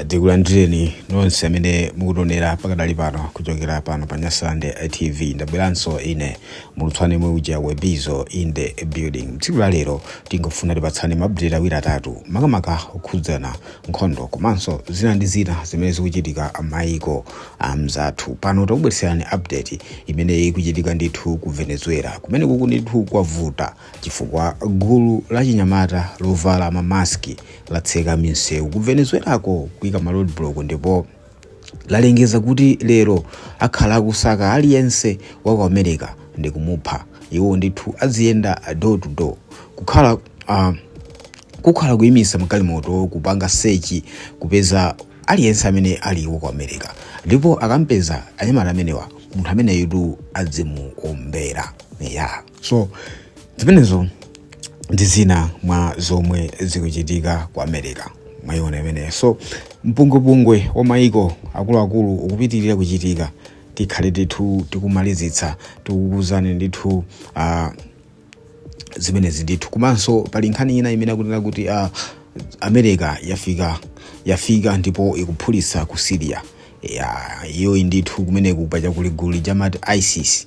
tikulandireni nonse amene mukutionera pakadali pano kuchokera pano pa nyasande tv ndabweranso ine mulutswane mwe uja webizo in the building tsiku la lero tingofuna tipatsane ma update awiri atatu makamaka okhudzana nkhondo komanso zina ndi zina zimene zikuchitika maiko amzathu pano takubweretserani update imene ikuchitika ndithu ku venezuela kumene kuku ndithu kwavuta chifukwa gulu lachinyamata lovala ma mask latseka misewu ku Venezuela-ko kuika ma roadblock ndipo lalengeza kuti lero akhala akusaka aliyense wa ku America ndikumupha. Iwo ndithu aziyenda door to door kukhala ah, kukhala kuimisa magalimoto kupanga search kupeza aliyense amene ali wa ku America ndipo akampeza anyamata amenewa munthu ameneyutu adzimuombera yeah. so zimenezo ndi zina mwa zomwe zikuchitika ku america mwayiona imeneyo so mpungwepungwe wa mayiko akuluakulu ukupitirira kuchitika tikhale ndithu tikumalizitsa tikukuuzani ndithu uh, zimenezi ndithu komanso pali nkhani ina imene akunena kuti uh, america yafika yafika ndipo ikuphulitsa ku syria ya iyoyi ndithu kumeneku pa chakuli gulu lija amati isis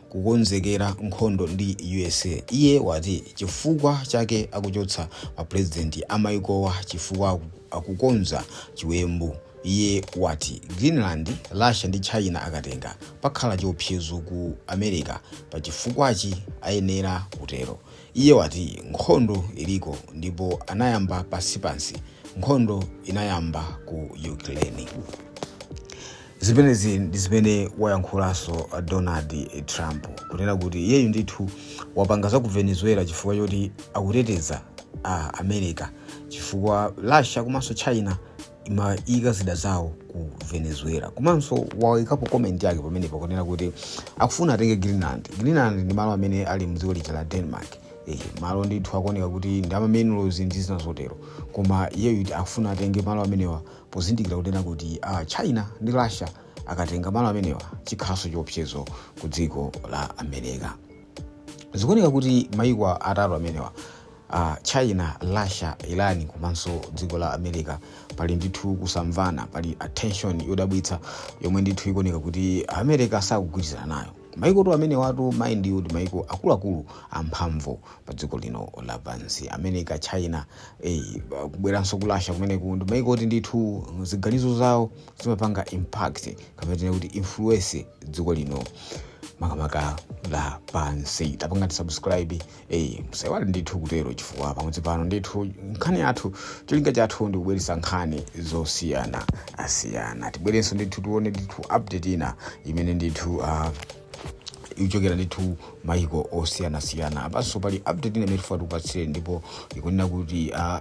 kukonzekera nkhondo ndi usa iye wati chifukwa chake akuchotsa mapulezidenti amaikowa chifukwa akukonza chiwembu iye wati greenland russia ndi china akatenga pakhala chiopsezo ku america pa chifukwachi ayenera kutero iye wati nkhondo iliko ndipo anayamba pansipansi nkhondo inayamba ku ukraine Zimenezi ndi zimene wayankhulanso Donald Trump, kunena kuti iyeyu ndithu wapanga za ku Venezuela chifukwa choti akuteteza America chifukwa Russia komanso China imayika zida zawo ku Venezuela. Komanso wayikapo comment yake pamenepo kunena kuti akufuna atenge Greenland. Greenland ndi malo amene ali mdziko lija la Denmark. Eh, malo ndithu akuoneka kuti ndi ama minerals ndi zina zotero koma iyeyu akufuna atenge malo amenewa pozindikira kunena kuti china ndi russia akatenga malo amenewa chikhalanso chiopsezo ku dziko la america zikuoneka kuti maiko atatu amenewa uh, china russia iran komanso dziko la america pali ndithu kusamvana pali attention yodabwitsa yomwe ndithu ikuoneka kuti america sakugwirizana nayo maikotu amenewatu mind you ndi maiko akuluakulu amphamvu pa dziko lino lapansi america china eh, kubweranso ku russia kumeneku ndi maiko oti ndithu ziganizo zawo zimapanga impact kapena tinene kuti influence dziko lino makamaka la pansi tapanga tisubscribe eyi musaiwale ndithu kutero chifukwa pamudzi pano ndithu nkhani yathu cholinga chathu ndi kubweretsa nkhani zosiyanasiyana tibwerenso ndithu tione ndithu update ina imene ndithu uh, ikuchokera ndithu maiko osiyanasiyana apanso pali update ina imene tifuna tikupatsire ndipo ikunena kuti uh,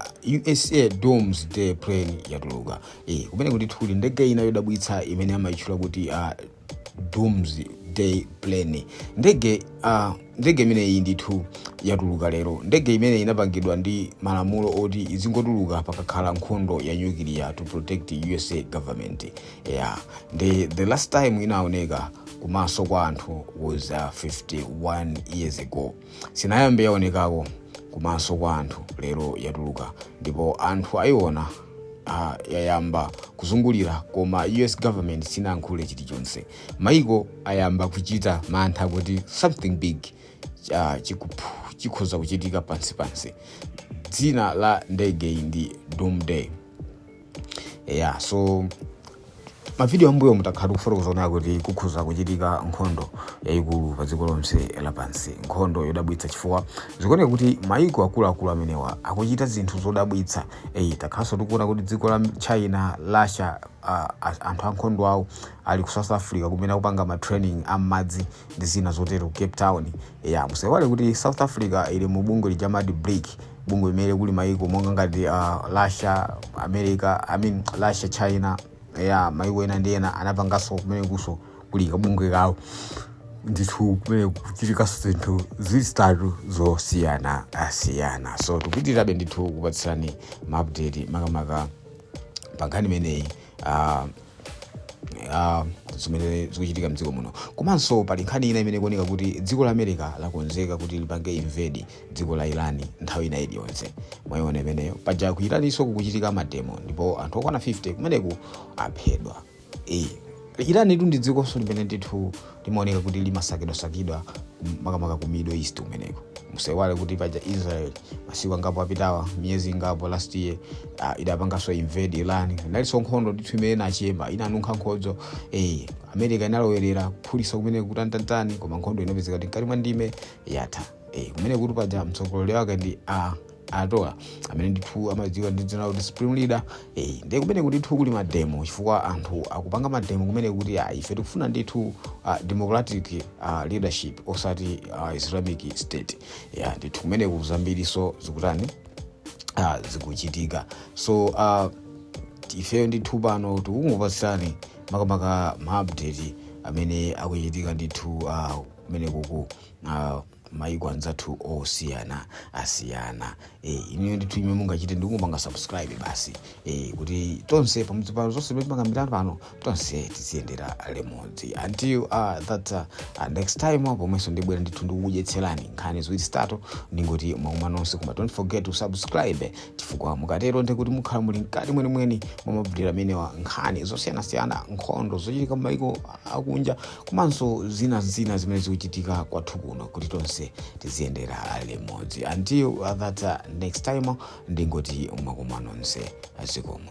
usa doomsday plane yatuluka eh, kumeneko ndithu kuli ndege ina yodabwitsa imene amayitchula kuti uh, doomsday plane ndege uh, ndege imeneyi ndithu yatuluka lero ndege imeneyi inapangidwa ndi malamulo oti izingotuluka pakakhala nkhondo ya nyukiliya to protect usa government yeah. ndi the last time inaoneka kumaso kwa anthu was uh, 51 years ago Sinayambe yaonekako kumaso kwa anthu lero yatuluka ndipo anthu ayiona a yayamba kuzungulira koma US government sinayankhule chilichonse. Maiko ayamba kuchita mantha kuti something big ah, chikuphu chikhoza kuchitika pansi pansi. Dzina la ndegeyi ndi Doomsday. yeah so mavidiyo ambuyo takhala tikufotokoza tikuona kuti kukhoza kuchitika nkhondo yayikulu pa dziko lonse lapansi nkhondo yodabwitsa chifukwa zikuoneka kuti mayiko akuluakulu amenewa akuchita zinthu zodabwitsa eyi takhalanso tikuona kuti dziko la china russia ah, ah, anthu ankhondo awo ali ku south africa kumene akupanga ma training am'madzi ndi zina zotero ku cape town ya musaiwale kuti south africa ili mu bungwe lija la brics bungwe limene kuli maiko monga ngati uh, russia america I mean, russia china ya maiko ena ndi ena anapanganso kumenekonso kuli kabungwe kawo ndithu kumene kukuchitikanso zinthu zithu zosiyanasiyana so tipitirabe ndithu kukupatsirani maupdate makamaka pankhani imeneyi uh, ah, zimene zikuchitika mdziko muno komanso pali nkhani ina imene ikuoneka kuti dziko la america lakonzeka kuti lipange invade dziko la irani nthawi ina iliyonse mwayiona imeneyo paja ku iraniso kukuchitika mademo ndipo anthu okwana 50 kumeneku aphedwa Eh, irani tu ndi dzikonso limene ndithu limaoneka kuti limasakidwasakidwa kum- makamaka ku middle east kumeneko musaiwale kuti paja israel masiku angapo apitawa miyezi ingapo last year uh, idapanganso invade iran inalinso nkhondo ndithu imene inachema inanunkha nkhondo eh, america inalowerera kuphulisa kumeneku kutanitani koma nkhondo inapezeka kuti mkati mwa ndime yatha eh, kumeneku paja mtsogoleri wake ndi a ayatollah amene ndithu amadziwika ndi dzina lakuti supreme leader eh, ndiye kumeneku ndithu kuli mademo chifukwa anthu akupanga mademo kumeneku kuti ah, ife tikufuna ndithu uh, democratic uh, leadership osati uh, islamic state yeah, ndithu kumeneku zambirinso zikutani uh, zikuchitika so uh, ifeyo ndithu pano tikungopasirani makamaka maupdate amene akuchitika ndithu uh, kumeneku ku uh, maiko anzathu osiyanasiyana eh inuyo ndithu chimene mungachite ndikungopanga subscribe basi eh kuti tonse pamudzi pano zonse zimene timakambirana pano tonse tiziyendera limodzi until uh, that uh, next time pomwenso ndibwera ndithu ndikukudyetserani nkhani ziwiri zitatu ndingoti mwakoma nonse koma don't forget to subscribe chifukwa mukatero ndiye kuti mukhala muli mkati mwenimweni mwa mabudira amenewa nkhani zosiyanasiyana nkhondo zochitika m'mayiko akunja komanso zina ndi zina zimene zikuchitika kwathu kuno kuti tonse tiziyendera limodzi until uh, that uh, next time ndingoti mwakoma nonse zikomo